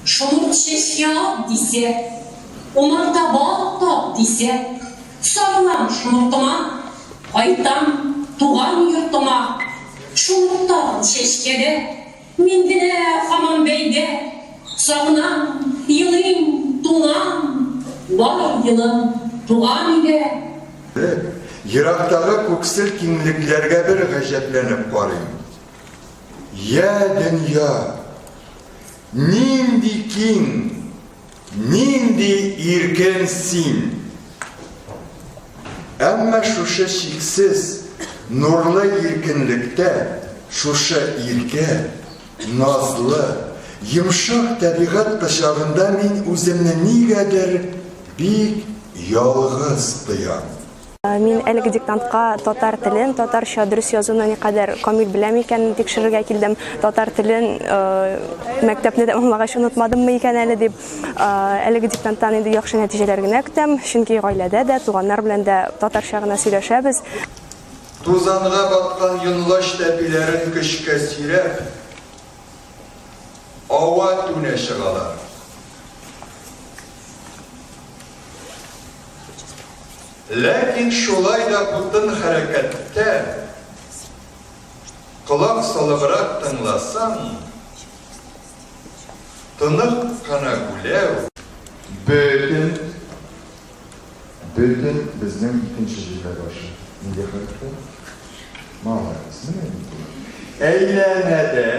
Шомырт чәчкә ат дисә, умарта балык тап дисә, сарылам шомыртыма, кайтам туган йортыма. Шомыртам чәчкәдә, мин генә хаман бәйдә, сагынам, елыйм, туңам, бар елым туган өйдә. Ерактагы күксел киңлекләргә бер гаҗәпләнеп карыйм. Йә, дөнья, нинди киң, нинди иркен син! Әмма шушы чиксез, нурлы иркенлектә, шушы иркә, назлы, йомшак тәбигать кочагында мин үземне нигәдер бик ялгыз тоям. Мин әлеге диктантка татар телен, татарча дөрес язуны никадәр камил беләм икәнен тикшерергә килдем. Татар телен мәктәпне тәмамлагач онытмадыммы икән әле дип, әлеге диктанттан инде яхшы нәтиҗәләр генә көтәм, чөнки гаиләдә дә, туганнар белән дә татарча гына сөйләшәбез. Тузанга баткан йонлач тәпиләрен көчкә сөйрәп, ава-түнә чыгалар. Ләкин шулай да бутын хәрәкәттә колак салыбрак тыңласаң, тонык кына гүләү, бөтен, бөтен безнең икенче җөмлә башы нинди хәрефтән? Молодец, менә ник болай. Әйләнәдә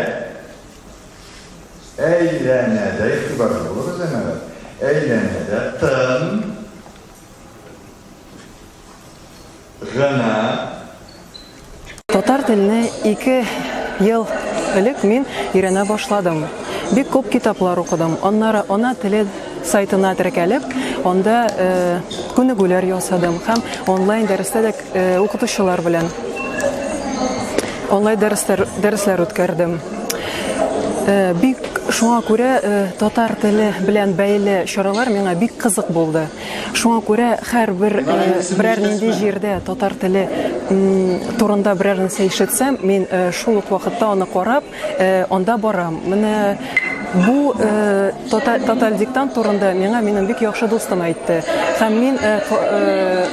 Әйләнәдә, игътибарлы булыгыз, әнәләр. Әйләнәдә тын гына Татар телне ике ел элек мин өйрәнә башладым. Бик күп китаплар укыдым. Аннары ана теле сайтына теркәлеп, анда күнегүләр ясадым һәм онлайн дәрестә дә Укытучылар белән онлайн дәресләр дәресләр үткәрдем. Бик шуңа күрә татар теле белән бәйле чаралар миңа бик кызык булды. Шуңа күрә һәрбер берәр нинди җирдә татар теле турында берәр нәрсә ишетсәм, мин шул ук вакытта аны карап, Анда барам. Менә бу тоталь диктант турында миңа минем бик яхшы дустым әйтте. Һәм мин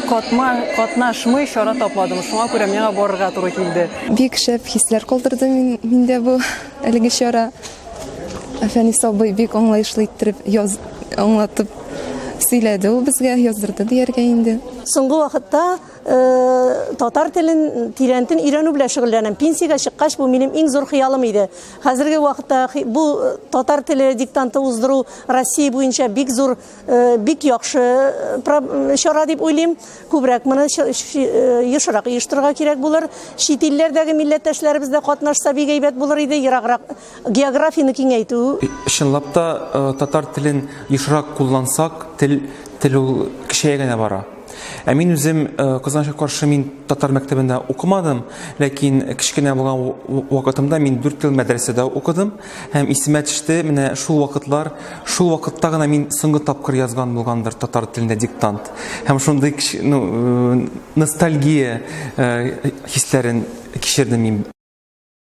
катма катнашмый чара тапмадым. Шуңа күрә миңа барырга туры килде. Бик шәп хисләр калдырды миндә бу әлеге чара. Фәнис абый бик аңлаешлы иттереп яз аңлатып сөйләде ул безгә, яздырды дияргә инде. Соңгы вакытта татар телен тирәнтен өйрәнү белән шөгыльләнәм. Пенсиягә чыккач, бу минем иң зур хыялым иде. Хәзерге вакытта бу татар теле диктанты уздыру Россия буенча бик зур, бик яхшы чара дип уйлыйм. Күбрәк моны ешрак оештырырга кирәк булыр. Чит илләрдәге милләттәшләребез дә катнашса бик әйбәт булыр иде, ераграк Географияне киңәйтү. Чынлап та, татар телен ешрак куллансак, тел, тел ул кечәя генә бара. Ә мин үзем, кызганычка каршы, мин татар мәктәбендә укымадым, ләкин кечкенә булган вакытымда мин дүрт ел мәдрәсәдә укыдым һәм исемә төште, менә шул вакытлар, шул вакытта гына мин соңгы тапкыр язган булгандыр татар телендә диктант. Һәм шундый ну, ностальгия хисләрен кичердем мин.